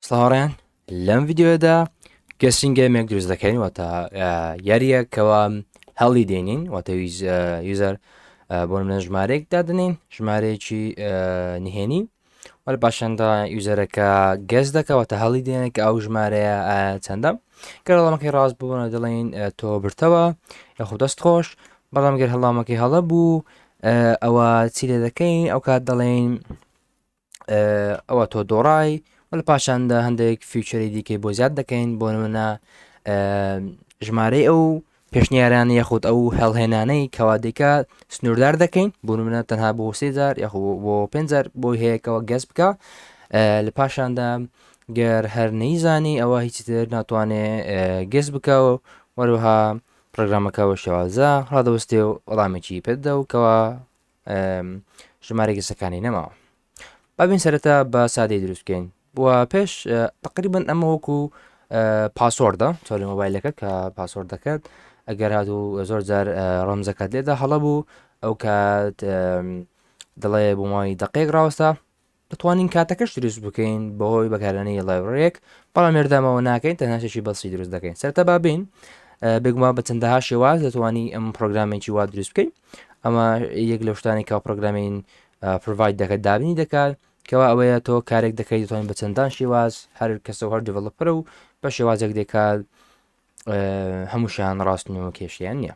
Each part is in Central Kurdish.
سڵاوڕێن لەم ڤیددیوەدا گەسین گەمێک دروست دەکەین واتە یاریە کەوا هەڵی دێنین واتە یوزەر بۆ منە ژمارێک دادنین ژمارەیەکی نهێنی وەل پاشاندا یوزەرەکە گەز دەکەوەتە هەڵی دێنێک ئەو ژمارەیە چەندە گەرڵامەکەی ڕاست بوون دەڵێن تۆ برتەوە یاخود دەست خۆش بەڵام گەر هەڵامەکەی هەڵە بوو ئەوە چی لێ دەکەین ئەو کات دەڵێن ئەوە تۆ دۆڕای وە لە پاشاندا هەندێک فیوچری دیکەی بۆ زیاد دەکەین بۆ نمونە ژمارەی ئەو پێشنیاران یاخود ئەو هەڵهێنانەی کەوادێکە سنووردار دەکەین بۆ منە تەنها بۆ سێزار یاخ بۆ پێزار بۆی هەیەکەوە گەس بکە لە پاشاندا گەر هەر نەیزانی ئەوە هیچی تر ناتوانێ گەس بکەوە وەروها پرۆگرامەکەەوە شێوازە ڕادەوەستێ و وەڵامێکی پێدە و کەەوە ژمارەی گسەکانی نەماوە بابین سەرەتا بە سادەی دروستکەین و پێش تقریبن ئەمە وەکو پاسۆردە تۆری مۆبایلەکە کە پاسۆرد دەکات ئەگەر هاات و زۆر جار ڕەمزەکەت لێدا هەڵە بوو ئەو کات دڵێ بۆماوەی دقێک ڕاوەستا دەتوانین کاتەکەش دروست بکەین بەهۆی بەکارانی لایبرەرێک بەڵام مێردامەوە ناکەین تەنهاشێکی بەسی دروست دەکەین سەرتا بابین بگومان بە چەندەها شێواز دەتوانی ئەم پرۆگرامێکی وا دروست بکەین ئەمە یەک لە شتانی کا پرۆگرامین پرڤایت دەکات دابنی دەکات کەوا ئەوەیە تۆ کارێک دەکەیت دەتوانین بە چەندان شێواز هەر کەسە هەر دیڤڵپەرە و بە شێوازێک دەکات هەمووشیان ڕاستنەوە کێشیان نییە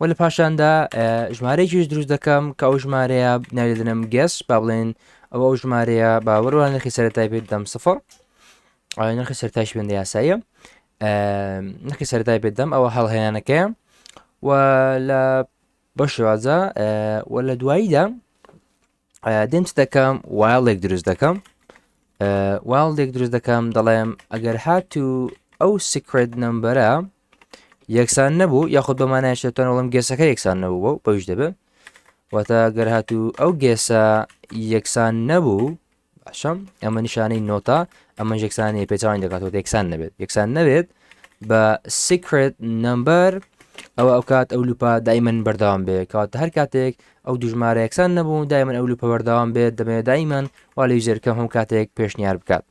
و لە پاشاندا ژمارەیەکیش دروست دەکەم کە ئەو ژمارەیە ناێدنم گەس با بڵێن ئەو ئەو ژمارەیە باوەڕوان نرخی سەرتای پێ دەم سفر نرخی سەرتاش بێندە یاساییە نرخی سەرتای پێ دەم ئەوە هەڵهێنانەکەیە و لە بەشێوازە و لە دواییدا دێم چ دەکەم وایڵێک دروست دەکەم وایڵێک دروست دەکەم دەڵێم ئەگەر هات و ئەو سکرێت نمبەرە یەکسان نەبوو یاخود بەمانایش دەتوان وڵم گەسەکە یەکسان نەبوو و بەوش دەبێت واتە گەر هات و ئەو گێسە یەکسان نەبوو باشم ئەمە نیشانەی نۆتا ئەمە یەکسانی پێچوان دەکاتەوە یەکسان نەبێت یەکسان نەبێت بە سیکرێت نمبەر ئەوە ئەو کات ئەو لوپا دایمەن بەردەوام بێ کات هەر کاتێک ئەو دوو ژمارە یەکسان نەبوو، دایمەن ئەو لوپە بەردەوام بێت، دەمەوێت دایمەن وا لە یوزەرەکەم هەموو کاتێک پێشنیار بکات.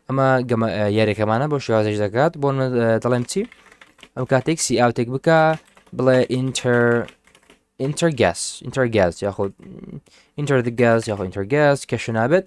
ئەمە گەمە یاریەکەمانە بۆ شێوازش دەکات بۆ دەڵێم چی ئەو کاتێک سی ئاوتێک بکە بڵێ ئینتەر ئینتەرگاس ئینتەرگاز یاخود ئینتەر دگاز یاخۆ ئینتەرگاز کەشە نابێت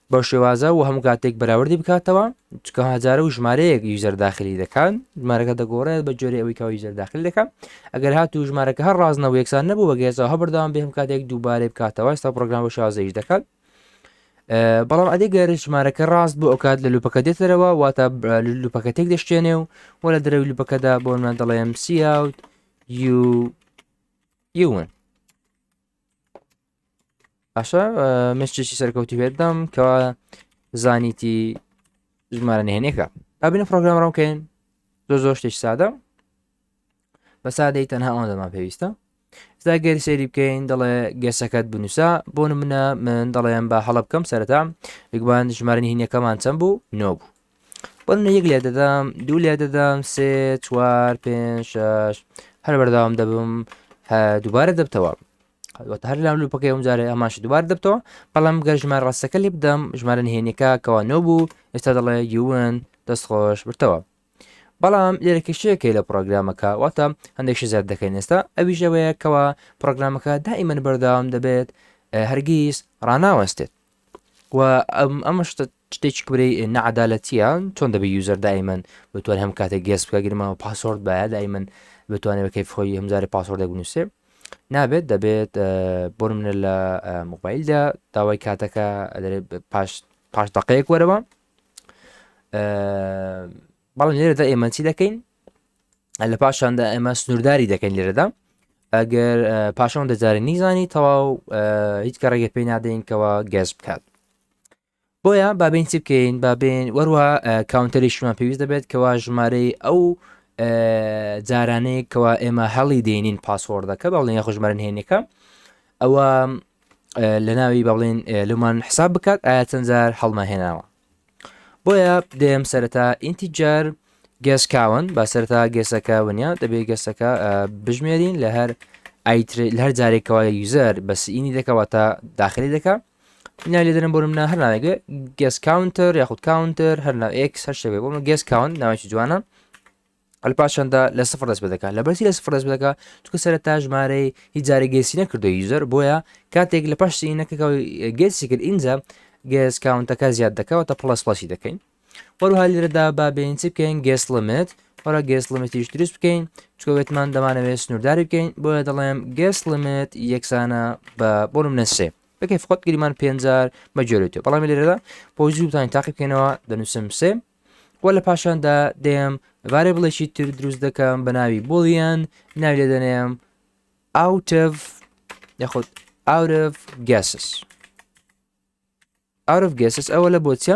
بەو شێوازە وە هەموو کاتێک بەراوردی بکاتەوە چکە هزارە و ژمارەیەک یوزەر داخلی دەکات ژمارەکە دەگۆڕێت بە جۆری ئەوەی کەەوە یوزەر داخل دەکەم ئەگەر هات و ژمارەکە هەر ڕازنەوە یەکسان نەبوو بەگەێزەوە هە بەردەوام بێم کاتێک دووبارەی بکاتەوە ئستا پرۆگرام بە شازەیش دەکات بەڵام ئەدی گەر ژمارەکە ڕاست بۆ ئەوکات لە لوپەکە دێتەرەوە واتە لوپەکە تێک دەشتێنێ و وە لە درەوی لوپەکەدا بۆ من دەڵێم سیاوت یون باشە مشتێکی سەرکەوتی بێتدام کەوا زانیتی ژمارە نهێنێکە ئابینە پرۆگرام ڕامکەین زۆر زۆر شتێک سادە بە سادەی تەنها ئەوان دەمان پێویستە ستا گەری سێری بکەین دەڵێ گەسەکەت بنووسە بۆ منە من دەڵێن بە هەڵە بکەم سەرتا یکبان ژمارنی هینەکەمان چەند بوو نۆ بوو بۆ منە یەک لێ دەدەم دوو لێ دەدەم سێ چوار پێ شش هەر بەرداوام دەبم دووبارە دەبتەوە واتە هەر لاولو پکەی ئەم جارێ ئەماش دوبار دەبتەوە بەڵام گەر ژمار ڕاستەکە لێ بدەم ژمارە نهێنەکە کەوا نۆ بوو ئێستا دەڵێ یون دەستخۆش برتەوە بەڵام لێرە کێشەیەکەی لە پرۆگرامەکە واتە هەندێکشی زیاد دەکەین ئێستا ئەویش ئەوەیە کەەوە پرۆگرامەکە دائیمەن بەرداوام دەبێت هەرگیز ڕناوەستێت و ئەمەش شتێکی کبرەی نەعادالەتیە چۆن دەبێت یوزەر دایمەن بتوان هەم کاتێک گەس بکە گرمەوە پاسۆرد باە دایمەن بتوانێت بەکەی خۆی هەمزاری پاسۆردە بنووسێ نابێت دەبێت بۆ منە لە موبایلدا داوای کاتەکە پاش پاش دقەیەک وەرەوە بەڵام لێرەدا ئێمەچی دەکەین لە پاشاندا ئێمە سنوورداری دەکەین لێرەدا ئەگەر پاشان دەجارە نیزانی تەواو هیچ کە ڕێگە پێی نادەینکەوە گەز بکات بۆیە بابین چی بکەین بابێن وەروە کاونتەریشمان پێویست دەبێت کەوا ژمارەی ئەو جارانەیە کەوا ئێمە هەڵی دێنین پاسۆردەکە بەڵێن یاخۆ ژمارن هێنێکە ئەوە لە ناوی بەڵێن لەمان حساب بکات ئایا چەند جار هەڵمەهێناوە بۆیە دەیەم سەرەتا ئینتیجار گێس کاون با سەرتا گێسەکە ونیا دەبێت گەسەکە بژمێرین لە هەر هەر جارێکەوە یوزەر بەسینی دەکەوە تا داخلی دەکە بنا لێ دەرم بۆرم نا هەر ناوێگە گەس کاونتەر یاخود کاونتەر هەر ناو ئێکس هەر شەوێ بۆمە گەس کاون ناوێکی جوانە ئەلپا چەندە لە سفر دەست بدەکە لەبەر لە سفر دەست بدەکە چکە سەر تا ژمارەی هیچ جارە گەسی نەکردو یوزەر بۆیە کاتێک لە پاش سینەکەەوە گەسی کرد ئینجا گەس کاونتەکە زیاد دەکەوە تا پلس پلسی دەکەین وەروها لێرەدا با بێن چ بکەین گەس لەمێت وەرا گەس لەمەتیش دروست بکەین چکەوێتمان دەمانەوێت سنوورداری بکەین بۆیە دەڵێم گەس لەمێت یەکسانە بە بۆ منە سێ بەکەی فقط گریمان پێنجار بەجۆێتێ بەڵام لێرەدا بۆ زووتان تاقی بکەینەوە دەنووسم سێ وە لە پاشاندا دێم ڤارێبڵێکی تر دروست دەکەم بە ناوی بۆڵیان ناوی لێ دەنێم ئاوتڤ یاخود ئاورف گەسس ئاورف گەسس ئەوە لە بۆچە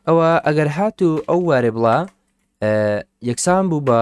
ئەوە ئەگەر هات و ئەو وارێ بڵا یەکسان بوو بە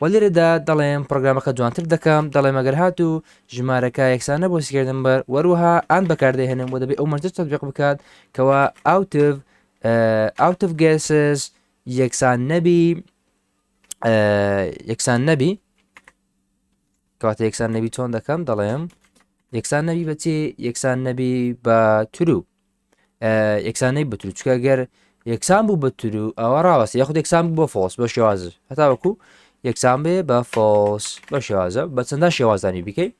وە لێرەدا دەڵێم پڕۆگرامەکە جوانتر دەکەم دەڵێم ئەگەر هاتوو ژمارەکە یەکسان نەبوو سکرێت نمبەر وەروەها ئان بەکاردەهێنم و دەبێت ئەو مەرجە تەطبیق بکات کەوا ئاوتڤ ئاوتڤ گێسز یەکسان نەبی یەکسان نەبی کەواتە یەکسان نەبی چۆن دەکەم دەڵێم یەکسان نەبی بەچی یەکسان نەبی بە ترو یەکسان نەی بترو چکە گەر یەکسان بوو بترو ئەوە ڕاوەستە یاخود یەکسان بوو بە فۆس بە شێوازە هەتاوەکو یەکسان بێ بە فۆس بە شێوازە بە چەندە شێوازانی بکەی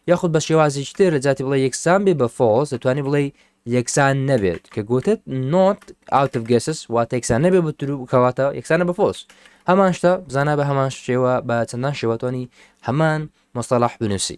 یاخود بە شێوازیش تر لە جاتی بڵێ یەکسان بێ بە فۆس دەتوانانی بڵێ یەکسان نەبێت کە گوتت نۆت ئاوتف گەسس وا تێکسان نەبێ بترو کەواتە یەکسانە بە فۆس هەمان شتە بزانە بە هەمان شێوە بە چەندان شێوەتوانی هەمان مستەلاح بنووسی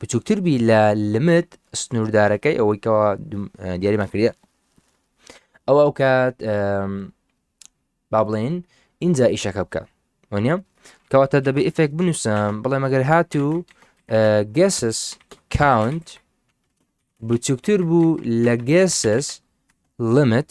بچووکتر بی لە لمت سنووردارەکەی ئەوەی کەوا دیاریمان کردە ئەوە ئەو کات با بڵێن اینجا ئیشەکە بکە وانە کەواتە دەبێ ئفێک بنووسم بڵێ مەگەر هات و گەسس کاونت بچووکتر بوو لە گەسس لمت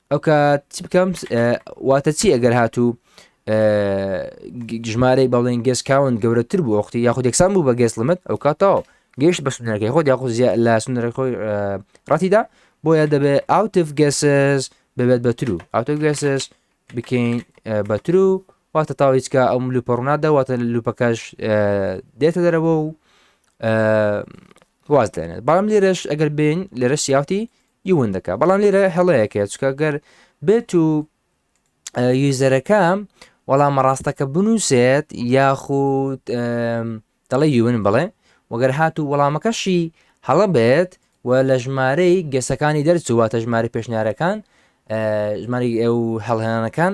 ئەوکات چی بکەم واتە چی ئەگەر هاتوو ژمارەی بەڵێن گەس کاون گەورەتر بوو وەختی یاخود یەکسان بوو بە گەس لەمەت ئەو کاتەوە گەیشت بە سنەکەی خۆت یاخود لە سنەرەکە خۆی ڕاتیدا بۆیە دەبێت ئاوتف گەسس ببێت بەتر و ئاوتف گەسس بکەین بەتر و واتە تاویچکە ئەم لوپەڕنادا واتە لوپەکەش دێتە دەرەوە و واز دێنێت بەڵام لێرەش ئەگەر بین لێرە سیاوتی ی ون دەکات بەڵام لێرە هەڵەیەک هەیە چکە گەر بێت و یوزەرەکە وەڵامە ڕاستەکە بنووسێت یاخود دەڵێ یون بڵێ وەگەر هات و وەڵامەکەشی هەڵە بێت و لە ژمارەی گەسەکانی دەرچوواتە ژماری پێشنیارەکان ژماری ئێو هەڵهێنانەکان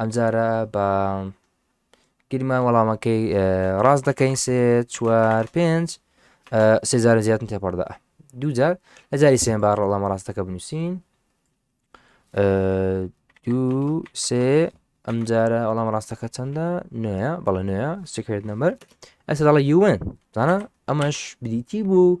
ئەمجارە بە گیرمان وەڵامەکەی ڕاست دەکەین سێ چوار پێنج سێزارە زیاتن تێپەڕدا دووجار لە جاری سێن با ڕەڵامە ڕاستەکە بنووسین دوو سێ ئەمجارە ئەڵام ڕاستەکە چەندە نوێە بەڵە نوێە سکرێت نەمەر ئەسە دەڵە یوێن زانە ئەمەش بریتی بوو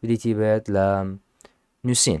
بریتی بێت لە نووسین.